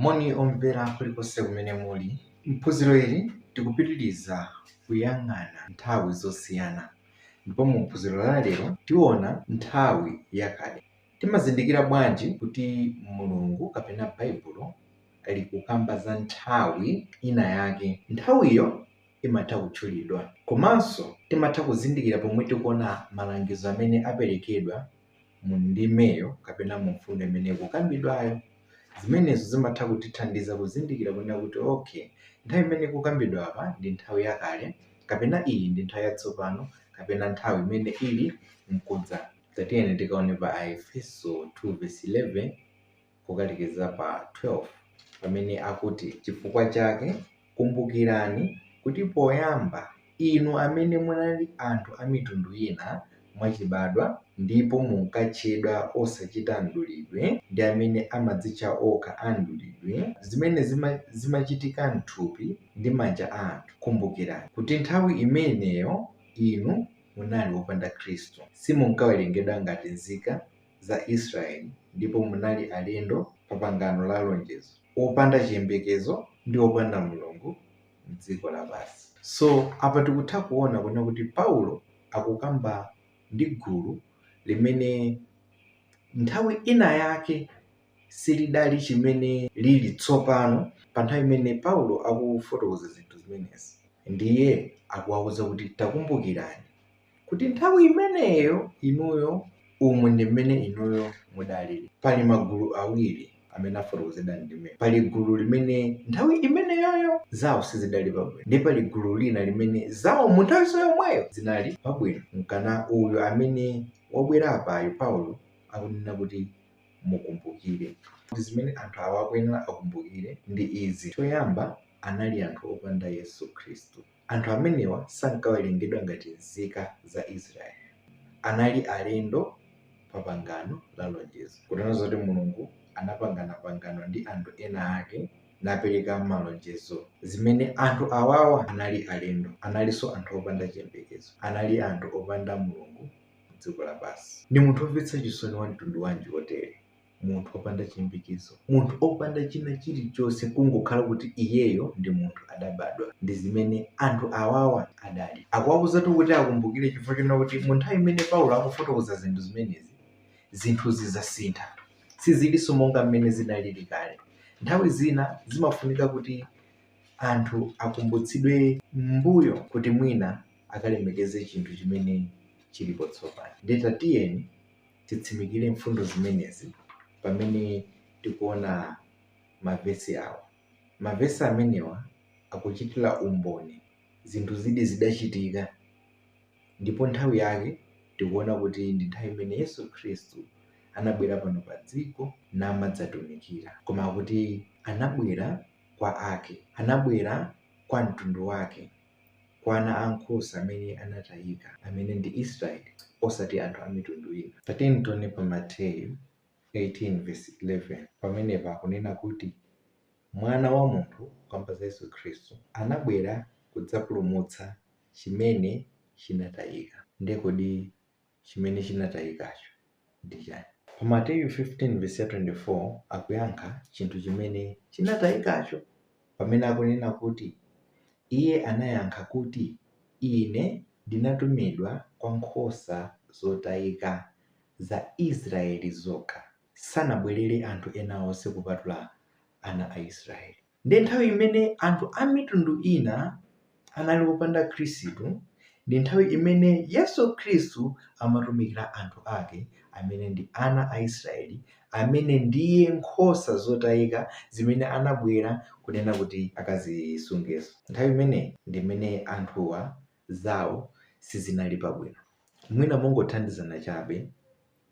Moni omvera kulikonse kumene muli. M'phunziro ili tikupitiriza kuyang'ana nthawi zosiyana ndipo mu phunziro la lero tiona nthawi yakale. Timazindikira bwanji kuti Mulungu kapena Baibulo likukamba za nthawi ina yake? Nthawiyo imatha kutchulidwa. Komanso timatha kuzindikira pomwe tikuona malangizo amene aperekedwa mu ndimeyo kapena mu mfundo imene ikukambidwayo. Zimenezo zimatha kutithandiza kuzindikira kunena kuti, okay, nthawi imene ikukambidwa apa ndi nthawi yakale kapena iyi ndi nthawi yatsopano kapena nthawi imene ili mkudza. Tatiyeni tikaone pa Aefeso 2 vesi 11. kukalekeza pa 12 pamene akuti, Chifukwa chake kumbukirani kuti poyamba inu amene munali anthu a mitundu ina mwachibadwa ndipo munkatchedwa osachita mdulidwe ndi amene amadzitcha okha a mdulidwe, zimene zimachitika m'thupi ndi manja a anthu, kumbukirani kuti nthawi imeneyo inu munali opanda Khristu. Simunkawerengedwa ngati nzika za Israeli ndipo munali alendo pa pangano la lonjezo, opanda chiyembekezo ndi opanda Mulungu m'dziko lapansi. So, apa tikutha kuona kunena kuti Paulo akukamba ndi gulu limene nthawi ina yake silidali chimene lili tsopano pa nthawi imene Paulo akufotokoza zinthu zimenezi. Ndiye akuwauza kuti takumbukirani kuti nthawi imeneyo inuyo umu ndi mmene inuyo mudalili pali magulu awiri amene afotokozedwa m'ndimeyi pali gulu limene nthawi imeneyoyo zawo sizidali pabwino nde pali gulu lina limene zawo mu nthawiso yomweyo zinali pabwino mkana uyu amene wabwera apayu paulo akunena kuti mukumbukire kuti zimene anthu awa akuyenera akumbukire ndi izi choyamba anali anthu opanda yesu khristu Anthu amenewa sankawerengedwa ngati nzika za Isiraeli. Anali alendo pa pangano la lonjezo, kutanthauza kuti Mulungu anapangana pangano ndi anthu ena ake napereka malonjezo. Zimene anthu awawa anali alendo, analinso anthu opanda chiyembekezo. Anali anthu opanda Mulungu m'dziko lapansi. Ndi munthu womvetsa chisoni wa mtundu wanji wotere munthu opanda chiyembekezo, munthu opanda china chilichonse kungokhala kuti iyeyo ndi munthu adabadwa. Ndi zimene anthu awawa adali. Akuwauzatu kuti akumbukire chifukwa chonena kuti mu nthawi imene Paulo akufotokoza zinthu zimenezi, zinthuzi zasintha. Sizilinso monga mmene zinalili kale. Nthawi zina zimafunika kuti anthu akumbutsidwe m'mbuyo kuti mwina akalemekeze chinthu chimene chilipo tsopano. Ndiye tatiyeni titsimikire mfundo zimenezi pamene tikuona mavesi awa. Mavesi amenewa akuchitira umboni zinthu izi zidachitika ndipo nthawi yake tikuona kuti ndi nthawi imene Yesu Khristu anabwera pano pa dziko namadzatumikira. Koma akuti anabwera kwa ake, anabwera kwa mtundu wake. kwa ana ankhosa amene anatayika, amene ndi Israeli, osati anthu a mitundu ina. Tatiyeni tione pa Mateyu 18:11, pamenepa akunena kuti Mwana wa munthu, kukamba za Yesu Khristu, anabwera kudzapulumutsa chimene chinatayika. Ndiye kodi chimene chinatayikacho ndi chani? Pa Mateyu 15:24 akuyankha chinthu chimene chinatayikacho pamene akunena kuti iye anayankha kuti ine ndinatumidwa kwa nkhosa zotayika za Israeli zokha. Sanabwelere anthu ena onse kupatula ana a Israeli. Ndiye nthawi imene anthu a mitundu ina anali opanda Khristu, ndi nthawi imene Yesu Khristu amatumikira anthu ake amene ndi ana a Israeli, amene ndiye nkhosa zotayika zimene anabwera kunena kuti akazisungezo. Nthawi imeneyi ndi imene anthuwa zawo sizinali pabwino. Mwina mongothandizana chabe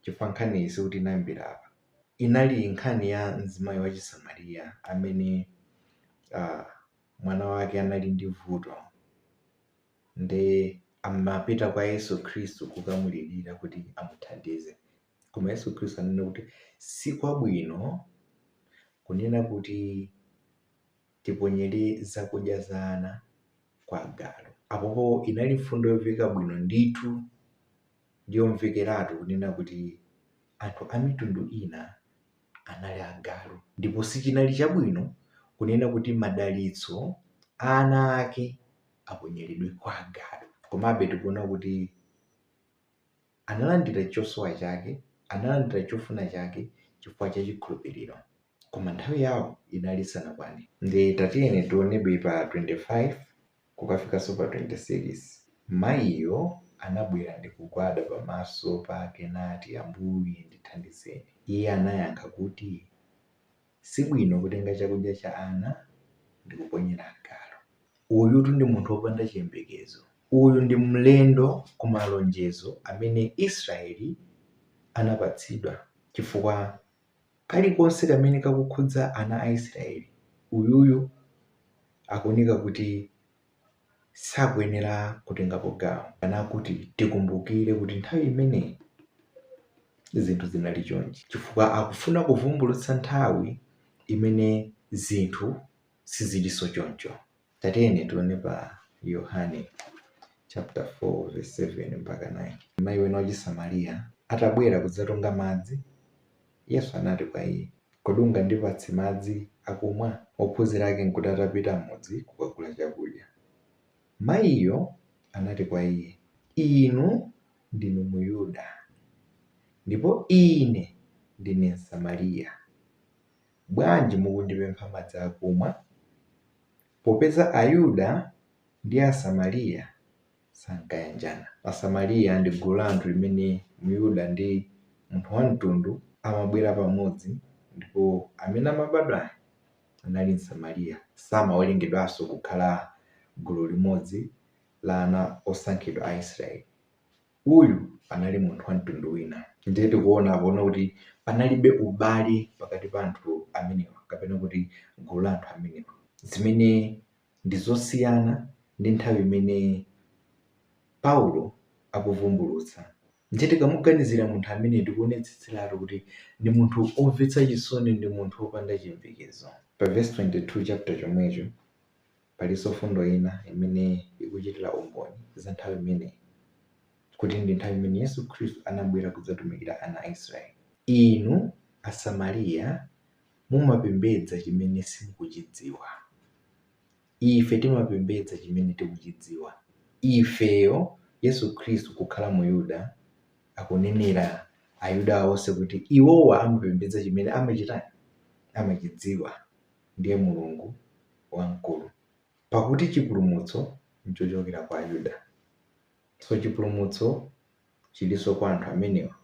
chifukwa nkhaniyi sikuti inayambira apa. inali nkhani ya mzimayi wa chisamariya amene uh, mwana wake anali ndi vuto nde amapita kwa yesu khristu kukamulirira kuti amuthandize koma yesu khristu anene kuti si kwabwino kunena kuti tiponyere zakudya za ana kwa agalu apopo inali mfundo yoveka bwino ndithu Ndi yomvekeratu kunena kuti anthu a mitundu ina anali agalu, ndipo sichinali chabwino kunena kuti madalitso a ana ake aponyeredwe kwa agalu. Komabe, tikuona kuti analandira chosowa chake, analandira chofuna chake chifukwa cha chikhulupiriro, koma nthawi yawo inali isanakwane. Ndiye tatiyeni tionebe pa 25. kukafikanso pa 26, mayiyo anabwera ndi kugwada pamaso pake nati, Ambuye, ndithandizeni. Iye anayankha kuti, Si bwino kutenga chakudya cha ana ndi kuponyera agalu. Uyutu ndi munthu wopanda chiyembekezo. Uyu ndi mlendo ku malonjezo amene Israeli anapatsidwa chifukwa. Kalikonse kamene kakukhudza ana a Isiraeli, uyuyu akuoneka kuti sakuyenera kutengapo gawo. Kaya kuti tikumbukire kuti nthawi imeneyi zinthu zinali chonchi, chifukwa akufuna kuvumbulutsa nthawi imene zinthu sizilinso choncho. Tatiyeni tione pa Yohane chapter 4 verse 7 mpaka 9. Mayi wina wachisamariya atabwera kudzatunga madzi, Yesu anati kwa iye, Kodi ungandipatse madzi akumwa? Ophunzira ake n'kuti atapita m'mudzi kukagula chakudya. Mayiyo anati kwa iye, Inu ndinu Myuda, ndipo ine ndine Msamariya. Bwanji mukundipempha madzi akumwa? Popeza Ayuda ndi Asamariya sankayanjana. Asamariya ndi gulu la anthu limene Myuda ndi munthu wa mtundu amabwera pamodzi ndipo amene amabadwa anali Msamariya samawerengedwanso kukhala gulu limodzi la ana osankhidwa a Isiraeli. Uyu anali munthu wa mtundu wina. Ndiye tikuona apano kuti panalibe ubale pakati pa anthu amenewa kapena kuti gulu la anthu amenewa, zimene ndi zosiyana ndi nthawi imene Paulo akuvumbulutsa. Ndiye tikamuganizira munthu amene tikuonetsetseratu kuti ndi munthu omvetsa chisoni, ndi munthu opanda chiyembekezo. Pa vesi 22 chapter chomwecho. Palinso mfundo ina imene ikuchitira umboni za nthawi imeneyi kuti ndi nthawi imene Yesu Khristu anabwera kudzatumikira ana a Isiraeli. Inu Asamariya mumapembedza chimene simukuchidziwa. Ife timapembedza chimene tikuchidziwa. Ifeyo, Yesu Khristu kukhala Muyuda, akunenera Ayuda onse kuti iwowa amapembedza chimene amachitani? Amachidziwa. ndiye Mulungu wamkulu. Pakuti chipulumutso nchochokera kwa Ayuda. So chipulumutso chilinso kwa anthu amenewa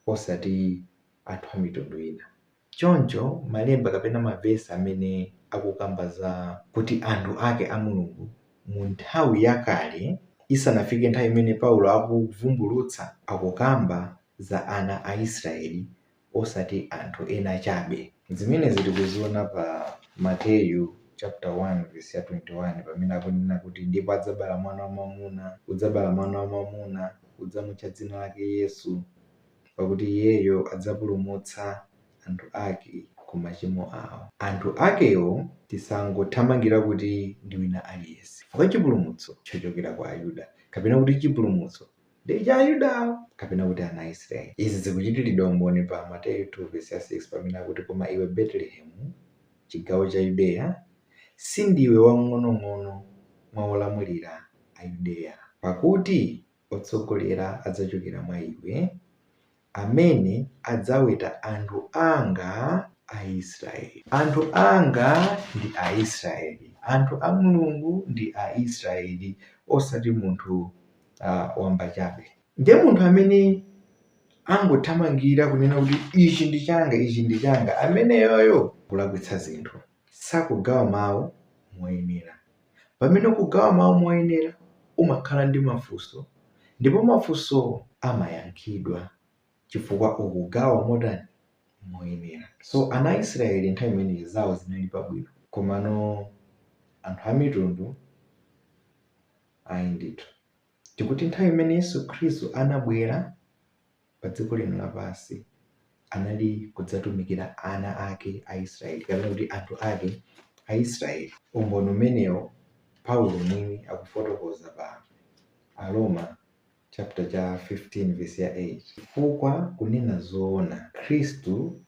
osati anthu a mitundu ina. Choncho malemba kapena mavesa amene akukamba za kuti anthu ake a Mulungu mu nthawi yakale isanafike nthawi imene Paulo akuvumbulutsa, akukamba za ana a Israeli osati anthu ena chabe. Zimenezi tikuziona pa Mateyu chaputala 1 vesi 21 pamene akunena kuti, Ndipo adzabala mwana wamwamuna, udzabala mwana wamwamuna, udzamutcha dzina lake Yesu, pakuti iyeyo adzapulumutsa anthu ake ku machimo awo. Anthu akewo tisangothamangira kuti ndi wina aliyense, chifukwa chipulumutso chochokera kwa Ayuda, kapena kuti chipulumutso ndi cha Ayuda, kapena kuti ana a Isiraeli. Izi zikuchitiridwa umboni pa Mateyu 2 vesi ya 6 pamene akuti, Koma iwe Betelehemu, chigawo cha Yudeya, si ndiwe wamng'onong'ono mwa olamulira a Yudeya, pakuti otsogolera adzachokera mwa iwe. amene adzaweta anthu anga Aisraeli. Anthu anga ndi Aisraeli. Anthu a Mulungu ndi Aisraeli, osati munthu wamba chabe. Ndiye munthu amene angothamangira kunena kuti ichi ndi changa, ichi ndi changa, ameneyoyo kulakwitsa zinthu, sakugawa mawu moyenera. Pamene ukugawa mawu moyenera, umakhala ndi mafunso ndipo mafunso amayankhidwa chifukwa ukugawa motani? Moyenera. So ana a Israeli nthawi imeneyi zawo zinali pabwino. Komano anthu amitundu ayi ndithu. Tikuti nthawi imene Yesu Khristu anabwera. padziko lino lapansi anali kudzatumikira ana ake a Isiraeli, kapena kuti anthu ake a Isiraeli. Umboni umenewo Paulo mwini akufotokoza pa Aroma chapter cha 15 vesi ya 8, Chifukwa kunena zoona, Khristu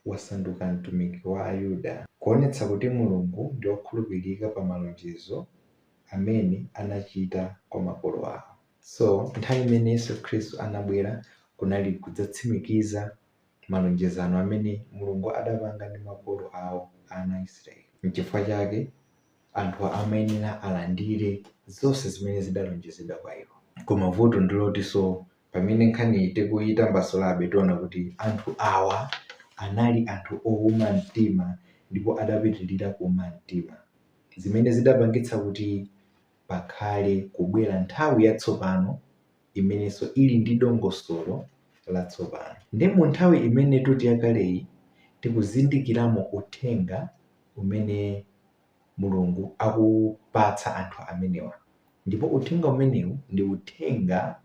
wasanduka mtumiki wa Ayuda, kuonetsa kuti Mulungu ndi wokhulupirika pa malonjezo amene anachita kwa makolo awo. So, nthawi imene Yesu Khristu anabwera kunali kudzatsimikiza malonjezano amene Mulungu adapanga ndi makolo awo, ana a Israeli. Nchifukwa chake anthu amayenera alandire zonse zimene zidalonjezedwa kwa iwo. Koma vuto ndilotinso pamene nkhani tikuyitambasulabe tiona kuti anthu awa anali anthu owuma mtima ndipo adapitilira kuuma mtima zimene zidapangitsa kuti pakhale kubwera nthawi yatsopano imenenso ili ndi dongosolo latsopano. Ndi mu nthawi imene titi yakaleyi tikuzindikiramo uthenga umene Mulungu akupatsa anthu amenewa. Ndipo uthenga umenewu ndi uthenga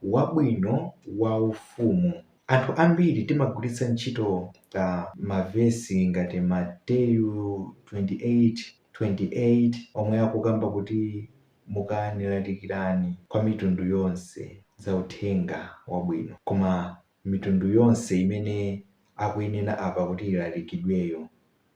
wabwino wa ufumu. Anthu ambiri timagwiritsa ntchito mavesi ngati Mateyu 28. 28 omwe akukamba kuti, Mukani, lalikirani kwa mitundu yonse za uthenga wabwino. Koma mitundu yonse imene akuyenera apa kuti ilalikidweyo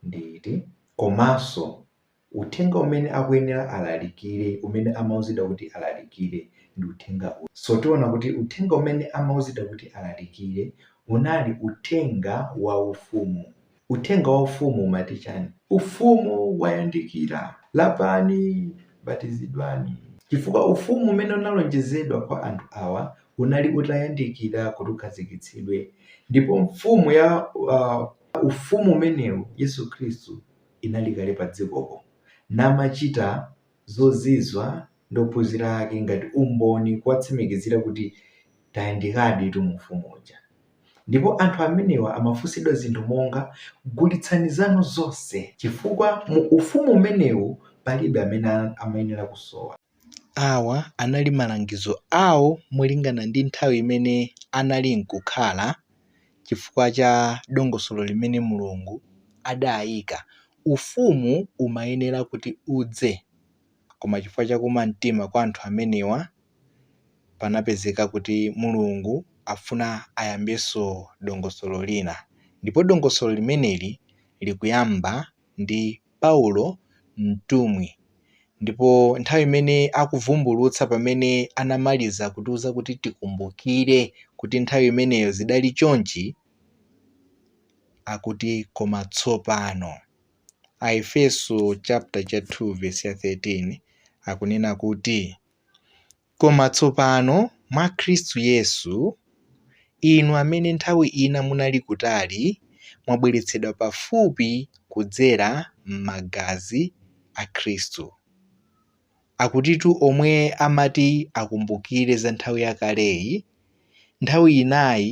ndi iti? Komanso uthenga umene akuyenera alalikire, umene amauzidwa kuti alalikire, ndi uthenga uti? So tiona kuti uthenga umene amauzidwa kuti alalikire unali uthenga wa Ufumu. Uthenga wa Ufumu umati chani? Ufumu wayandikira! Lapani, batizidwani. Chifukwa Ufumu umene unalonjezedwa kwa anthu awa unali utayandikira kuti ukhazikitsidwe, ndipo Mfumu ya, uh, Ufumu umenewu, Yesu Khristu, inali kale padzikopo, namachita zozizwa ndi ophunzira ake ngati umboni kuwatsimikizira kuti tayandikaditu mu Ufumu uja. Ndipo anthu amenewa amafunsidwa zinthu monga, Gulitsani zanu zonse, chifukwa mu Ufumu umenewu palibe amene amayenera kusowa. Awa anali malangizo awo molingana ndi nthawi imene anali nkukhala chifukwa cha dongosolo limene Mulungu adaika Ufumu umayenera kuti udze, koma chifukwa cha kuuma mtima kwa anthu amenewa, panapezeka kuti Mulungu afuna ayambenso dongosolo lina. Ndipo dongosolo limeneli likuyamba ndi Paulo mtumwi. Ndipo nthawi imene akuvumbulutsa pamene anamaliza kutiuza kuti tikumbukire kuti nthawi imeneyo zidali chonchi, akuti koma tsopano. Aefeso chapter cha 2 verse ya 13 akunena kuti koma tsopano mwa Khristu Yesu inu amene nthawi ina munali kutali mwabweretsedwa pafupi kudzera m'magazi a Khristu. Akutitu omwe amati akumbukire za nthawi yakaleyi, nthawi inayi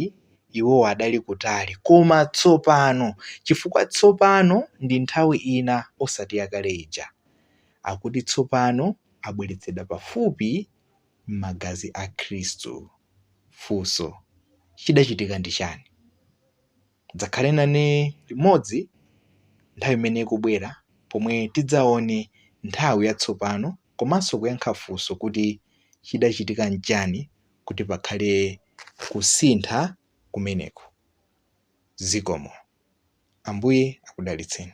iwo adali kutali koma tsopano chifukwa tsopano ndi nthawi ina osati yakale ija. Akuti tsopano abweretsedwa pafupi m'magazi a Khristu. Funso, Chidachitika ndi chani? Mudzakhale nane limodzi nthawi imene ikubwera pomwe tidzaone nthawi yatsopano komanso kuyankha funso kuti chidachitika n'chani kuti pakhale kusintha kumeneko. Zikomo. Ambuye akudalitseni.